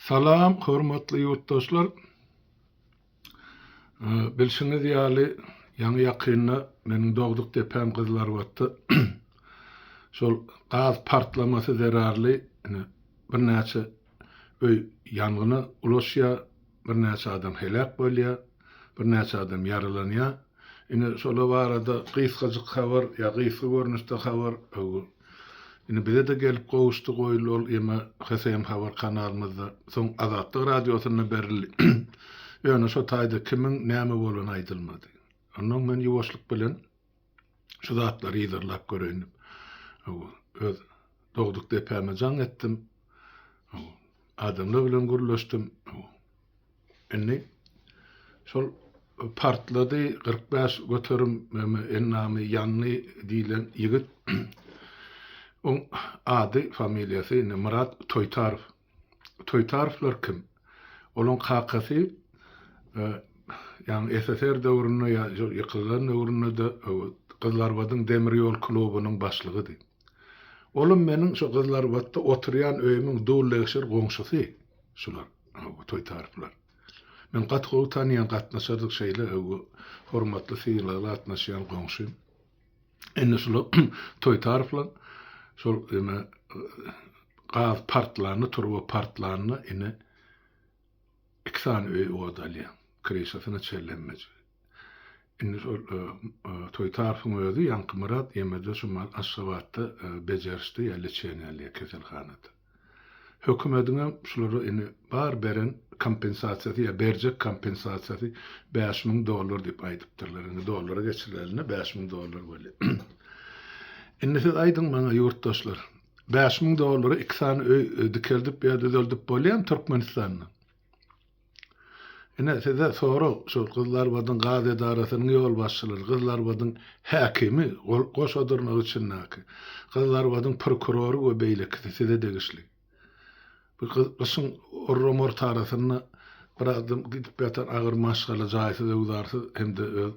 Salam hormatly ýurtdaşlar! Bilşiňiz ýaly, ýaňy ýakynda meniň dogduk depem Gyzylarbatda şol gaz partlamasy zerarly ine birnäçe öý ýangyna ulaşýar. Birnäçe adam heläk bolýar, birnäçe adam ýaralanýar. Indi şolar barada gysgajyk habar ýa gysga görnüşde habar indi bize-de gelip gowuşdy, goýuldy ol ýeme HSM habar kanalymyzda, soň Azatlyk radiosynda berildi. Ýöne şo taýda kimiň näme bolany aýdylmady. Onnoň men ýuwaşlyk bilen. Şu zatlary yzarlap göreýin diýip, öz dogduk depäme jaň etdim. Adamlar bilen gürleşdim. Indi şol partlady 45 göterim ennamy ýanly diýlen ýigit oň ady familiýasy indi Myrat Toýtarow Toýtarovlar kim? Olaň kakasy ýagny SSR döwründe ýa ýykylan döwründe-de Gyzlarbadyň demir ýol klubunyň başlygydy. Olam meniň şo Gyzlarbatda oturýan öýümiň dul-legşer goňşusy şular, bu Toýtarovlar. Men gaty gowy tanýan, gatnaşardyk şeýle hormatly sylag gatnaşýan goňşym. Indi şular Toýtarowlar şol ýene gaz partlanda, turba partlanda indi iki sany öý od alýar. Kryşasyna çellenmejik. Indi şol e, e, Toýtarowyň özi Ýaňky Myrat ýemede şu Aşgabatda e, bejerişde ýa lçeniýa alýar keselhanada. Hökümediňem şulara indi bar beren kompensasiýasy ýa berjek kompensasiýasy bäş müň dollar diýip aýdypdyrlar. Indi dollara geçirilerinde bäş müň dollar bolýar. Indi siz aýdyň maňa ýurtdaşlar, bäş müň dollara iki sany öý dikeldip ýa düzeldip bolýarmy Türkmenistanda? Ine size sorag şol Gyzlarbadyň gaz edarasynyň ýolbaşçylary, Gyzlarbadyň häkimi, goşa dyrnak içindäki, Gyzlarbadyň prokurory we beýlekisi size degişli. Bu gyşyň orramorty arasynda bir adam gidip ýatar agyr maşgala jaýsyz öwzarsyz hem-de öz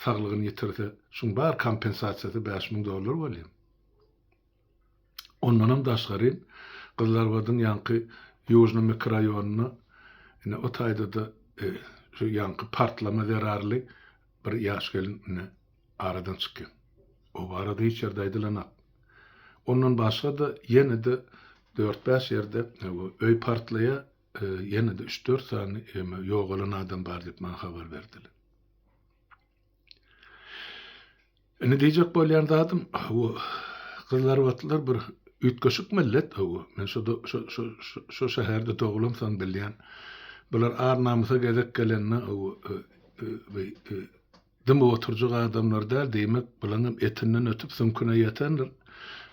saglygyny ýitirse, şuň bar kompensasiýasy bäş müň dollar bolýa. Ondanam daşgary, Gyzlarbadyň ýaňky Ýužnyý mikroraýonynda, ine, o taýda-da şu ýaňky partlama zerarly bir ýaş gelin, ine, aradan çykýan. O barada hiç ýerde aýdylanak. Ondan başga-da, ýene-de dört-bäş ýerde öý partlaýar, ýene-de üç-dört sany ýogalan adam bar diýip maňa habar berdiler. Indi diýjek bolýan zadym, bu gyzlarbatlar bir üýtgeşik millet bu. Men şu şu şu şu şäherde dogulymsoň bilýän. Bular ar-namysa gezek gelende bu e, e, e, e, dymyp oturjak adamlar däl, diýmek, bulaň hem etinden ötüp süňküne ýetendir.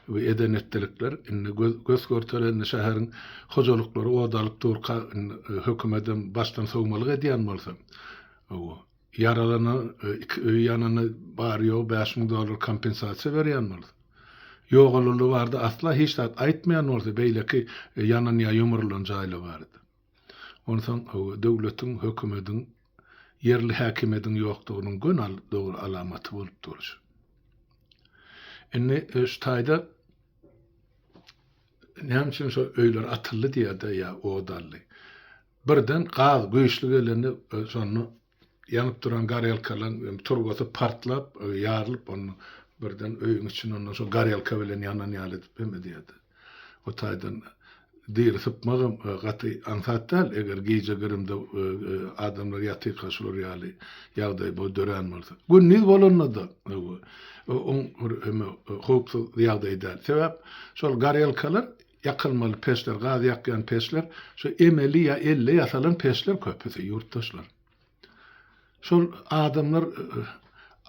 Bu eden etdilikler indi göz, göz görtelende şäheriň hojalyklary od alyp durka, indi e, hökümet hem başdan sowmalyk edýän bolsa. Bu Ýaralana, iki öýi ýanana bary-ýogy bäş müň dollar kompensasiýa berýän bolsa, ýogalanlar barada asla hiç zat aýtmaýan bolsa, beýleki ýanan ýa ýumrulan jaýlar barada, onsoň döwletiň, hökümediň, ýerli häkimiýediň ýokdugynyň göni dogry alamaty bolup dur şu. Indi şu taýda näme üçin şo öýler atyldy diýýär-de ýa od aldy. Birden gaz güýçli gelende şonda ýanyp duran gorelkalaň turbasy partlap ýarylyp onda birden öýüň içinde onda şo gorelka bilen ýanan ýaly edip hem edýärdi. O taýdan diri sypmagam gaty aňsat däl eger gije grimde adamlar ýatyrka şular ýaly ýagdaý bol dörän bolsa. Gündiz bolanda-da oň bir howpsuz ýagdaý däl. Sebäp şol gorelkalar Ýakylmaly peçler, gaz ýakýan peçler, şu emeli ýa elle ýasalan peçler köpüsi, ýurtdaşlar. Şol adamlar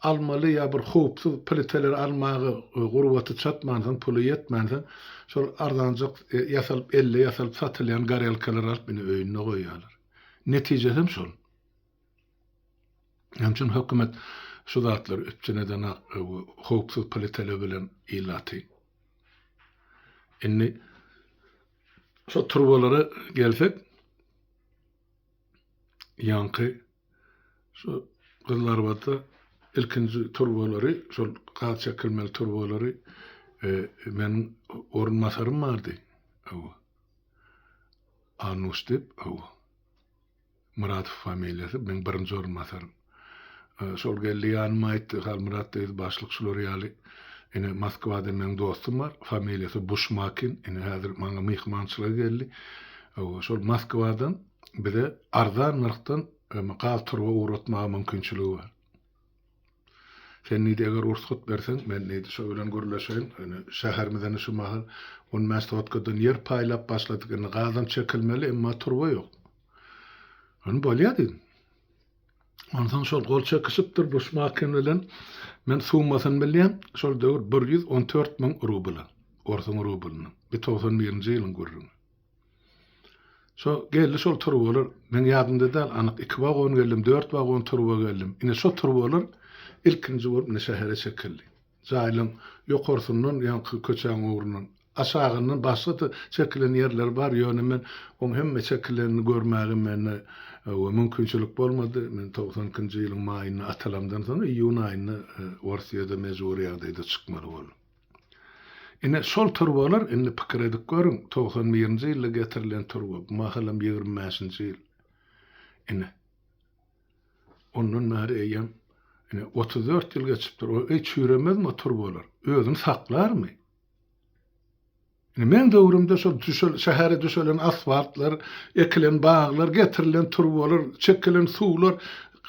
almaly ýa bir howpsuz pliteleri almaga gurbaty çatmansoň, puly ýetmänsoň, şol arzanjak ýasalyp, elle ýasalyp satylýan gorelkalary alyp indi öýünde goýýarlar. Netije hem şol. Şonuň üçin hökümet şu zatlary üpjün edenak howpsuz politele bilen ilaty. Indi şu turbalara gelsek, ýaňky şu gyzlarbada ilkinji turbalary, şol gaz çekilmeli turbalary e, men orunbasarym bardy. Awa. Anuş dip, awa. Muratow familiýasy, meň birinji orunbasarym. Şol geldi ýanyma aýtdy, Halmyrat diýdi, başlyk şular ýaly, ine, Moskwada meň dostum bar, familiýasy Buşmakin, ine, häzir maňa myhmançylyga geldi. Hawa, şol Moskwadan bize arzan nyrhdan gaz turba ugratmaga mümkinçiligi bar. Sen neydi eger ursgat berseň men neydi şo bilen gürleşeýin ýöne şäherimize indi şu mahal on bäş sotkadan ýer paýlap başladyk indi gazam çekilmeli emma turba ýok. Ony bolýa diýdim. Onsoň şol gol çekişipdir Buşmakin bilen men summasyny bilýän şol döwür bir ýüz on dört müň rubla orsuň rublyny bir togsan birinji ýylyň gürrüňi. Şo geldi şol turbalar, meň ýadymda däl, anyk iki wagon geldim, dört wagon turba geldim. Ine şo turbalar ilkinji bolup ine şähere çekildi. Jaýlaryň ýokarsyndan, ýaňky köçäň ugrundan, aşagyndan başga-da çekilen ýerleri bar, ýöne men oň hemme çekilenini görmäge mende mümkinçilik bolmady. Men togsan ikinji ýylyň maýynda atalamdan soň iýun aýynda Orsyýada mejbury ýagdaýda çykmaly boldum. Ine, şol turbalar, indi pikir edip görüň, togsan birinji ýylda getirilen turba, bu mahalam ýigrimi bäşinji ýyl. Ine, ondan bäri eýýäm, ine, otuz dört ýyl geçipdir. Ol, eý, çüýremezmi o turbalar? Özüni saklarmy? Indi meň döwrümde şol düşel, şähere düşelen asfaltlar, ekilen baglar, getirilen turbalar, çekilen suwlar,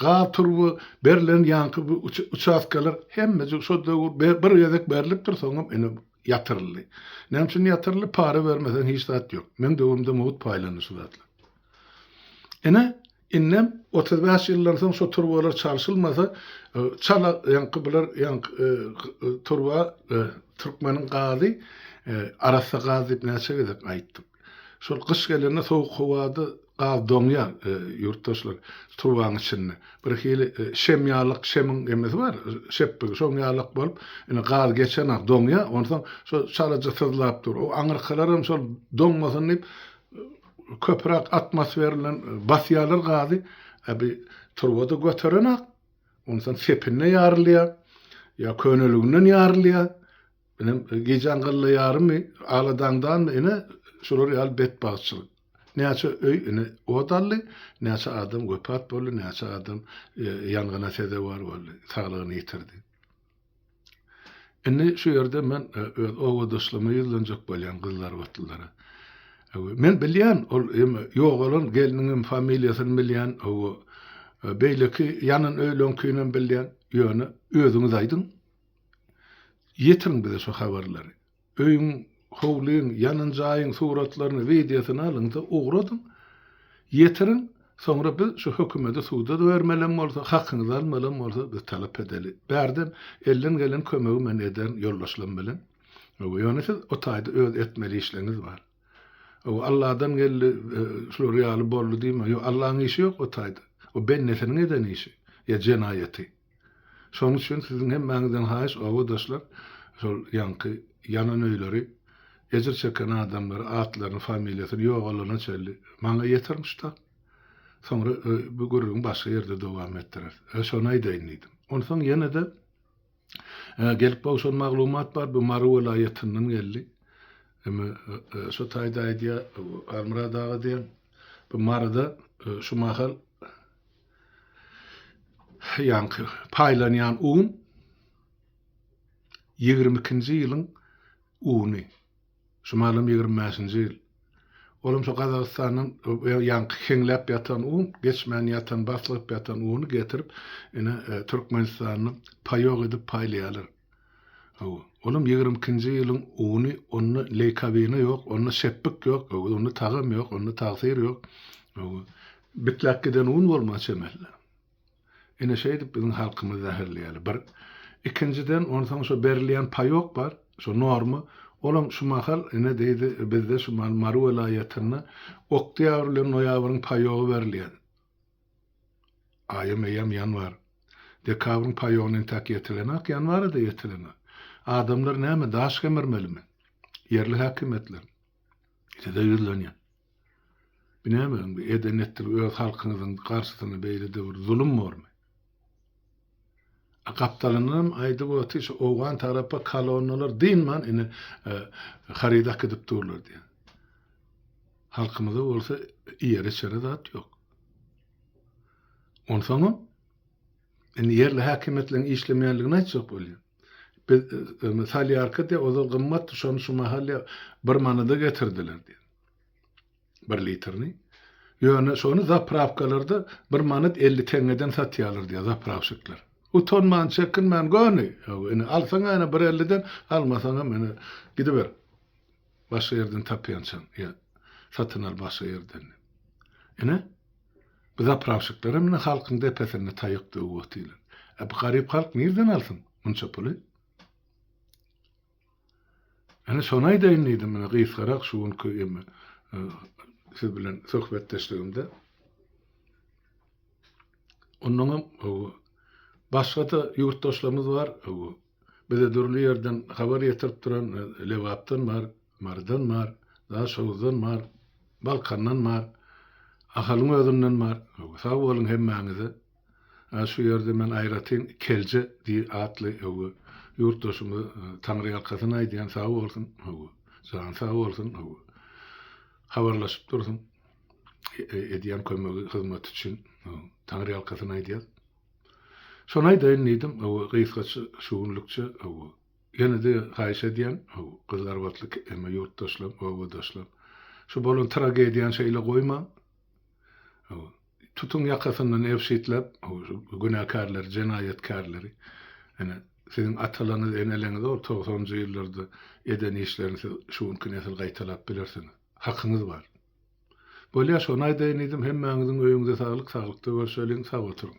gaz turba berlen ýaňky bu uçastkalar hemmejik şol döwür be, bir gezek berlipdir, soňam ine ýatyryldy. Näme üçin ýatyryldy? Para bermeseň hiç zat ýok. Meň döwrümde mugt paýlandy şu zatlar. Ine, indem otuz bäş ýyldan soň şu turbalar çalşylmasa, çala ýaňky bular ýaňky turba türkmeniň gazy arassa gaz diýip näçe gezek aýtdyk. Şol gyş gelende sowuk howada gaz doňýar, ýurtdaşlar, turbaň içinde. Bir hili şem ýalak, şemiň emesi bar, şepbigi, şoň ýalak bolup, ine, gaz geçenok, doňýar, onsoň şo çalaja syzlap dur. O aňyrkalaram şol doňmasyn diýip, Köpürak atmosfer bilen basýarlar gazy. Ebi turbada göterenak, ondan sepinde ýarylýa. Ýa köneliginden ýarylýa. Inem gijäň gylla ýarymy, aladaňdanmy ine şular ýaly betbagtçylyk. Näçe öý ine ot aldy, näçe adam wepat boldy, näçe adam ýangyna sezewar boldy, saglygyny ýitirdi. Indi şu ýerde men e, öz obadaşlygyma ýüzlenjek bolýan gyzlarbatlylara. Men bilýän, ol ýogalan ýogalan gelniňem familiýasyny bilýän, owo, e, beýleki ýanan öýleňkinem bilýän, ýöne özüňiz aýdyň. Ýetiriň bize şu habarlary. Öýüň, howlyň, ýanan jaýyň suratlaryny, wideosyny alyň-da, ugradyň. Ýetiriň. Soňra biz şu hökümeti suda-da bermelem bolsa, hakyňyzy almalam bolsa, biz talap edeli. Bärden elden gelen kömegi men ederin ýoldaşlam bilen. Hawa, ýöne siz o taýda öz etmeli işleriňiz bar. Hawa, Alladan geldi, şular ýaly boldy diýme. Ýok, Allaň işi ýok o taýda. O bendesiniň eden işi ýa jenaýaty. Şonuň üçin siziň hemmäňizden haýyş obadaşlar şol ýaňky ýanan öýleri, ejir çeken adamlary atlaryny familiýasyny ýogalana çenli maňa ýetirmiş ta. Soňra bu gürrüňi başga ýerde dowam etdireris. Öe şony aýdaýyn diýdim. Onsoň ýene-de gelip gowşan maglumat bar bu Mary welaýatyndan geldi. Eme şo taýda aýdýar Almyrat aga diýen bu Maryda şu mahal Ýaňky paýlanýan un ýigrimi ikinji ýylyň uny. Şu malam ýigrimi bäşinji ýyl. Olam şu Gazagystandan ýaňky heňläp ýatan un, geçmän ýatan, baslygyp ýatan uny getirip, ine, Türkmenistanda paýok edip paýlaýarlar. Hawa, olam ýigrimi ikinji ýylyň uny, onda leýkabina ýok, onda şepbik ýok, hawa, onda tagam ýok, onda tagsyr ýok, hawa, bitläp giden un bolmaga çemeli-le. Ine, şeýdip biziň halkymyzy zäherleýärler, bir. Ikinjiden, onsoň şo berilýän paýok bar, şo norma, olam şu mahal, ine, diýdi, bizde şu mahal Mary welaýatynda oktýabr bilen noýabryň paýogy berilýär. Aýam eýýäm ýanwar. Dekabryň paýogyna entäk ýetilenak, ýanwara-da ýetilene. Adamlar näme, daş gemirmelimi? Ýerli häkimiýetler. Size ýüzlenýän. Bu näme, bu eden-etdigiňiz öz halkyňyzyň garşysyna beýle döwür zulum bormy? A gapdalynyňam aýdyp otyr şu owgan tarapa kolonnalar dynman ine harydy akydyp durlar diýen. Halkymyza bolsa iýere içere zat ýok. Onsoňam indi ýerli häkimiýetleriň işlemeýänligini aýtjak bolýar. Biz e, salýarka diýip ozal gymmatdy şony şu mahal bir manada getirdiler diýen. bir litrini. Ýöne şony zaprawkalarda bir manat elli teňňeden satýarlar diýýär zaprawşikler. Utanman, çekinmän göni. Ýok, ine, alsaň-a ene bir elliden, almasaňam ene gidiber. Başga ýerden tapýançaň ýa satyn al başga ýerden. Ine, bu zaprawşiklerem ine halkyň depesinde taýak döwüp otyrlar. E bu garyp halk nirden alsyn munça puly? Ine şony aýdaýyn diýdim ine gysgarak şu günki eme siz bilen söhbetdeşligimde. Ondan hem başga-da ýurtdaşlarymyz bar. Bize dürli ýerden habar ýetirip duran Lebapdan bar, Marydan bar, Daşoguzdan bar, Balkandan bar, Ahalyň özünden bar. Sag boluň hemmäňize. Ä şu ýerde men aýratyn Kelje di atly höwü ýurtdaşymy taňryýalkasyn aýdýan sag bolsun höwü jany sag bolsun höwü habarlaşyp dursun edýän kömegi hyzmaty üçin taňryýalkasyn aýdýas. Şony aýdaýyn diýdim höwü gysgaça şu günlükçe höwü ýene-de haýyş edýän höwü gyzlarbatly emma ýurtdaşlam obadaşlam şu bolan tragediýany şeýle goýmaň Tutuň ýakasyndan ebşitläp, günäkärleri, jenaýatkärleri. Ene, siziň atalaryňyz, eneleňiz ol togsanjy ýyllarda eden işlerini siz şu günki nesil gaýtalap bilersiňiz. Hakyňyz bar. Bolýa, şony aýdaýyn diýdim, hemmäňiziň öýüňize saglyk, saglykda görşeliň, sag oturyň.